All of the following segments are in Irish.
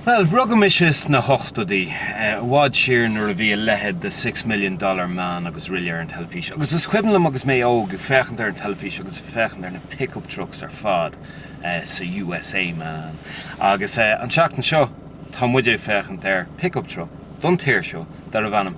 Bhuel, rugadh mise sna hochtóidí, i bhfad siar nuair a bhí a leithéid de Six Million Dollar Man agus araile ar an teilifís, agus is cuimhin liom agus mé óg ag féachaint ar an teilifís agus ag féachaint ar na pick-up trucks ar fad sa USA, man. Agus an tseachtain seo tá muid ag féachaint ar pick-up truck don tír seo darbh ainm.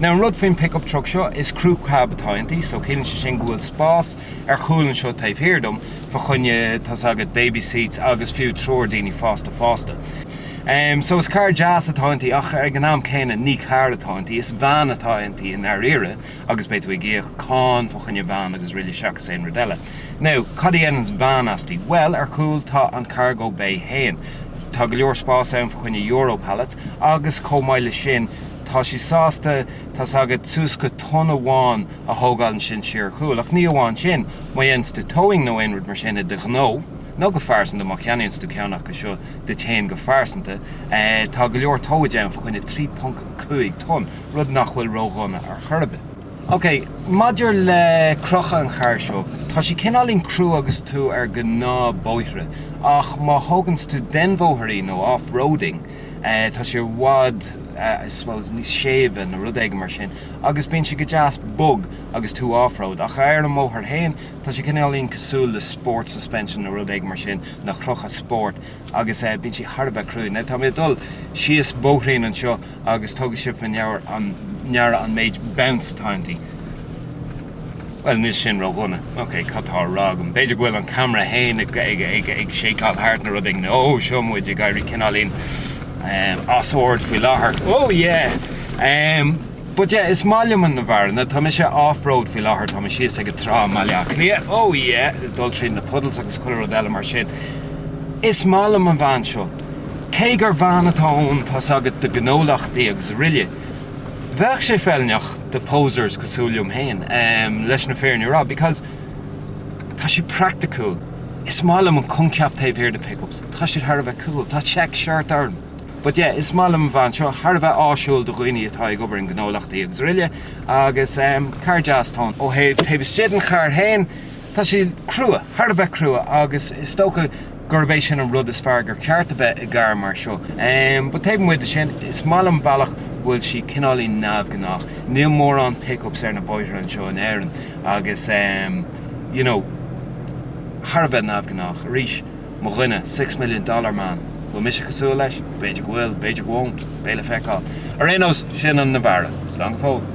Now an rud faoin pickup truck seo, is crew cab atá inti, so ciallaíonn sé sin go bhfuil spás ar chúl anseo taobh thiar díom fa choinne, tá's agat, baby seats agus fiú triúr daoine fásta fásta. Em, so is carr deas atá inti ach ag an am céanna ní carr atá inti, is veain atá inti i ndairíre agus beidh tú ag íoc cáin fa choinne veain agus araile seachas aon rud eile. Now, cad a dhéananns veain asti? Bhuel, ar chúl tá an cargo bay fhéin. Tá go leor spás ann fa choinne euro pallets agus chomh maith le sin, Tá sí sásta, tá's agat, suas go tonn amháin a thógáil ansin siar ar chúl. Ach ní amháin sin, má dhéananns tú towing nó aon rud mar sin i do ghnó, nó go pearsanta, má cheannaíonns tú ceann acu seo duit fhéin go pearsanta, tá go leor towage ann fa choinne 3.5 tonn, rud nach bhfuil ró-dhona ar chor ar bith. OK, maidir le crochadh an chairr seo, tá sí cineáilín crua agus tú ar gnáthbhóithre, ach má thóganns tú den bhóthar í, nó off-roading, Tá sí i bhfad, I suppose, níos séimhe nó rud éigin mar sin agus bíonn sí go deas bog agus tú off-road. Ach ar an mbóthar féin, tá sí cineáilín cosúil le sport suspension nó rud éigin mar sin, nó crochadh spóirt, agus bíonn sí thar a bheith crua. Now, tá mé ag dul síos bóithrín anseo agus tugadh sibh faoi ndeara an méid bounce atá inti. Bhuel, níl sin ródhona. Ok, cad tá a rá agam? B'fhéidir go bhfuil an ceamara féin ag shakeáil thart nó rud éigin. Ó, seo muid ag éirí cineáilín as ord faoi láthair. Ó, yeah! But yeah, is maith liom an Navara. Now tá sí off-road faoi láthair, tá sí síos ag an trá i mBaile Átha Cliath. Ó, yeah! Ag dul tríd na puddles agus chuile rud eile mar sin. Is maith liom an veain seo. Cé gur veain atá ann, tá's agat, do ghnólachtaí agus araile. Bheadh sé feiliúnach do posers cosúil liom féin, em, leis an fhírinne a rá, because tá sí praiticiúil. Is maith liom an coincheap taobh thiar de pickups, tá siad thar a bheith cool, tá check shirt orm! But yeah, is maith liom an veain seo, thar a bheith áisiúil do dhaoine atá ag obair i ngnólachtaí agus araile, agus em, carr deas atá ann. Ó thaobh, taobh istigh den charr féin, tá sí crua, thar a bheith crua, agus is dócha gurb é sin an rud is fearr gur cheart a bheith i gcarr mar seo. But taobh amuigh de sin, is maith liom an bealach bhfuil sí cineáilín neamhghnách. Níl mórán pickups ar na bóithre anseo in Éirinn agus you know, thar a bheith neamhghnách. Arís, mo dhuine, six million dollar man, an mbeidh mise cosúil leis? B'fhéidir go bhfuil, b'fhéidir I won't, beidh le feiceáil. Ar aon nós, sin an Navara. Slán go fóill.